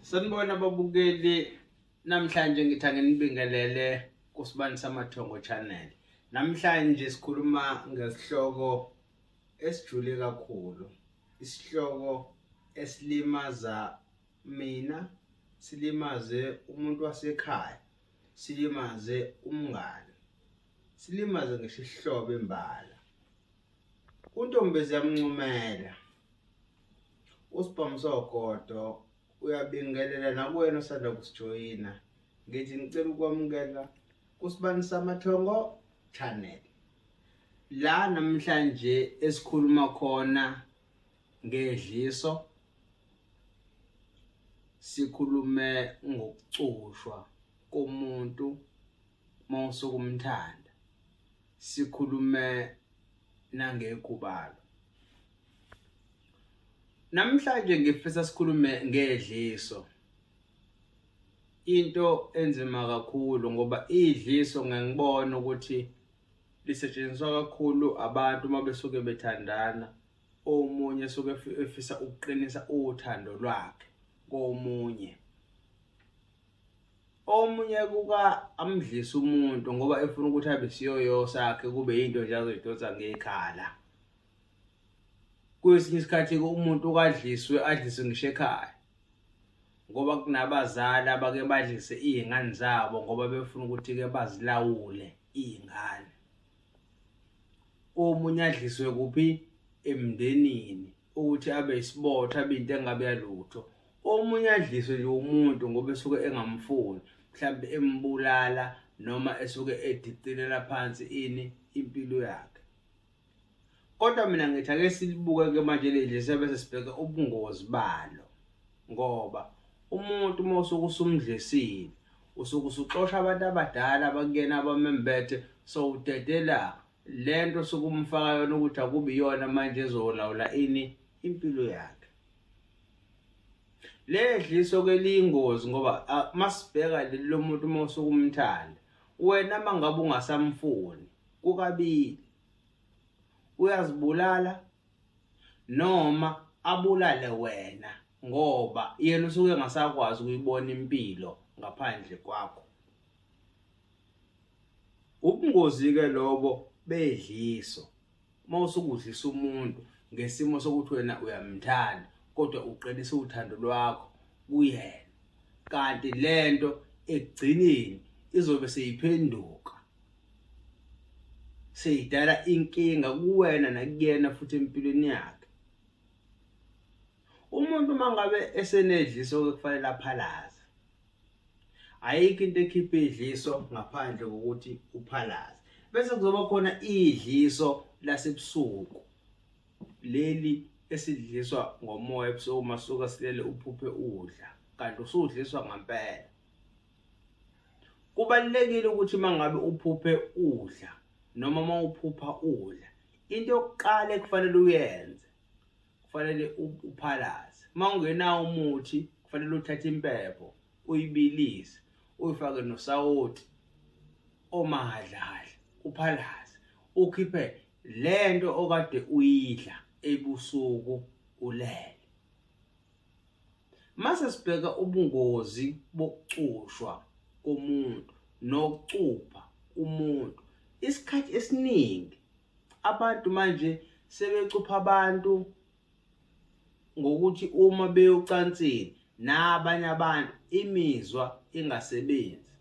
Sanibona babukeli namhlanje ngithi anginibingelele kusibani samathongo channel namhlanje sikhuluma ngesihloko esijule kakhulu isihloko esilimaza mina silimaze umuntu wasekhaya silimaze umngane silimaze ngisho isihlobo imbala Untombezi yamncumela. Usibhamu sogodo uyabingelela nakuwena osanda kusijoyina. Ngithi ngicela ukwamukela kusibani samathongo channel. La namhlanje esikhuluma khona ngedliso sikhulume ngokucushwa komuntu uma usukumthanda sikhulume nangekhubalo namhlanje ngifisa sikhulume ngedliso into enzima kakhulu ngoba idliso ngangibona ukuthi lisetshenziswa kakhulu abantu uma besuke bethandana omunye suke efisa ukuqinisa uthando lwakhe komunye omunye kuka amdlisa umuntu ngoba efuna ukuthi abe siyoyo sakhe kube yinto nje azoyidonsa ngekhala kwesinye isikhathi umuntu ukadliswe adliswe ngisho ekhaya ngoba kunabazali abake badlise iy'ngane zabo ngoba befuna ukuthi-ke bazilawule iy'ngane omunye adliswe kuphi emndenini ukuthi abe isibotho abe into engabe yalutho omunye adliswe nje umuntu ngoba esuke engamfuni mhlawumbe embulala noma esuke edicilela phansi ini impilo yakhe kodwa mina ngithi ake silibuke-ke manje leli siyabe sesibheke ubungozi balo ngoba umuntu uma usuke usumdlisile usuke usuxosha abantu abadala abakuyena abamembethe sowudedela lento sokumfaka yona ukuthi akubi yona manje ezolawula ini impilo yakhe ledliso ke liyingozi ngoba masibheka leli lomuntu uma usukumthanda wena mangabe ungasamfuni kukabili uyazibulala noma abulale wena ngoba yena usuke engasakwazi ukuyibona impilo ngaphandle kwakho Ubungozi ke lobo bedliso. Uma usukudlisa umuntu ngesimo sokuthi wena uyamthanda kodwa uqinisa uthando lwakho kuyena. Kanti lento ekugcineni izobe seyiphenduka. Seyidala inkinga kuwena nakuyena futhi empilweni yakhe. Umuntu mangabe esenedliso okufanele aphalaze ayikho into ekhipha idliso ngaphandle kokuthi uphalaze bese kuzoba khona idliso lasebusuku leli esidliswa ngomoya ebusuku uma suka silele uphuphe udla kanti usudliswa ngempela kubalekile ukuthi mangabe uphuphe udla noma mawuphupha udla into yokuqala ekufanele uyenze kufanele uphalaze uma ungenawo umuthi kufanele uthathe impepho uyibilise uyifake nosawoti omahadlahadla uphalaze ukhiphe lento okade uyidla ebusuku ulele mase sibheka ubungozi bokucushwa komuntu nokucupha umuntu isikhathi esiningi Abantu manje sebecupha abantu ngokuthi uma beyocansini nabanye abantu imizwa ingasebenzi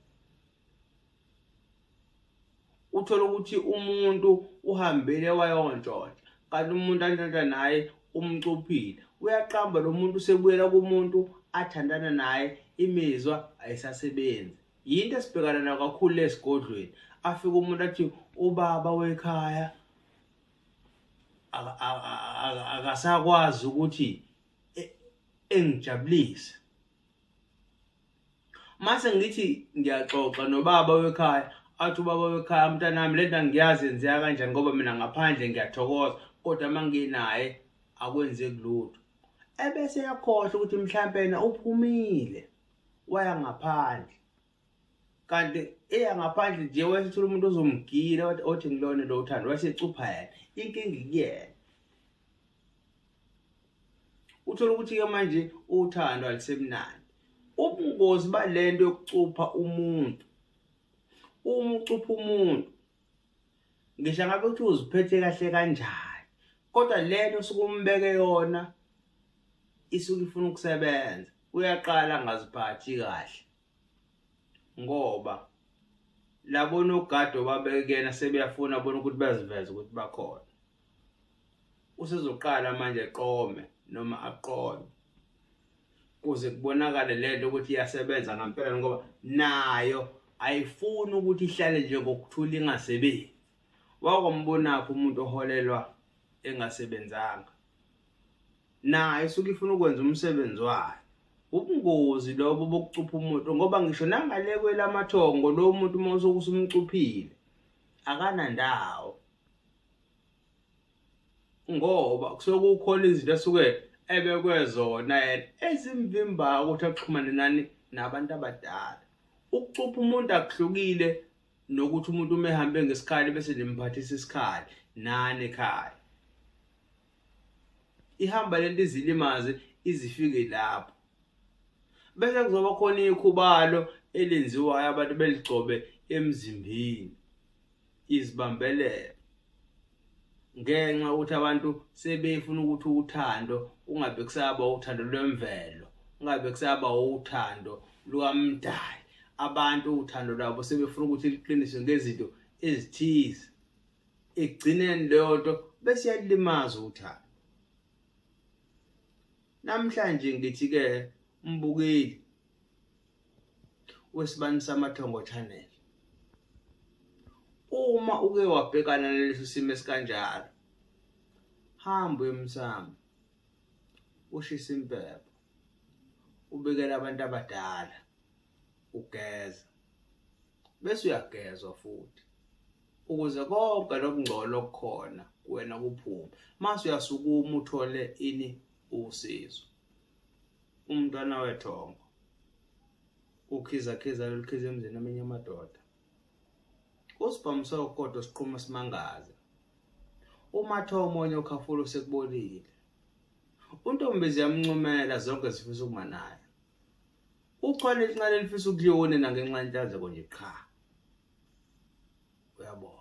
uthola ukuthi umuntu uhambele wayontshontsha kanti umuntu antshontsha naye umcuphile uyaqamba lo muntu usebuyela kumuntu athandana naye imizwa ayisasebenzi yinto esibhekana nayo kakhulu le sigodlweni afike umuntu athi ubaba wekhaya akasakwazi ukuthi e-, engijabulise mase ngithi ngiyaxoxa nobaba wekhaya athi ubaba wekhaya mntanami le nto angiyazi yenzeka kanjani ngoba mina ngaphandle ngiyathokoza kodwa uma nginaye akwenzeki lutho ebese yakhohlwa ukuthi mhlawumpe yena uphumile waya ngaphandle kanti eya ngaphandle nje wayethola umuntu ozomgila wathi othi ngilona lo uthando wayesecupha yena inkinga ikuyena uthola ukuthi-ke manje uthando alisemnandi ubungozi balento yokucupha umuntu uma ucupha umuntu ngisho ngabe uthi uziphethe kahle kanjani kodwa lento osuke umbeke yona isuke ifuna ukusebenza uyaqala angaziphathi kahle ngoba labona ugado babekuyena sebeyafuna bona ukuthi baziveze ukuthi bakhona usezoqala manje eqome noma aqome kuze kubonakale lento ukuthi iyasebenza ngempela ngoba nayo ayifuni ukuthi ihlale nje ngokuthula ingasebenzi wakwambonakho umuntu oholelwa engasebenzanga naye usuke ifuna ukwenza umsebenzi wayo ubungozi lobo bokucupha umuntu ngoba ngisho nangale kwelamathongo lo muntu uma usuke usumcuphile akanandawo ngoba kusuke kukhona izinto esuke ebekwe zona yena ezimvimbayo ukuthi axhumane nani nabantu abadala ukucupha umuntu akuhlukile nokuthi umuntu uma ehambe ngesikhali bese nimphathisa isikhali nani ekhaya ihamba lento izilimaze izifike lapho bese kuzoba khona ikhubalo elenziwayo abantu beligcobe emzimbeni izibambelelo ngenxa ukuthi abantu sebefuna ukuthi uthando ungabe kusaba uthando lwemvelo ungabe kusaba uthando lukamdali abantu uthando lwabo sebefuna ukuthi liqiniswe ngezinto ezithize ekugcineni leyo nto bese yalimaza uthando Namhlanje ngithi ke umbukeli wesibani samathongo channel uma uke wabhekana nalesi simo esikanjalo hamba emsamo ushisa impepho ubikela abantu abadala ugeza bese uyagezwa futhi ukuze konke lokungcola okukhona kuwena kuphume mase uyasukuma uthole ini usizo umntwana wethongo ukhizakhiza lolukhiza emzini amenye amadoda usibhamu sokodo siqhuma simangaza umatha omonye ukhafula usekubolile untombi ziyamuncumela zonke zifisa ukuma naye Uchwane elincane elifisa ukuliyonena ngenxa yenhlanzeko nje qha. Uyabonga.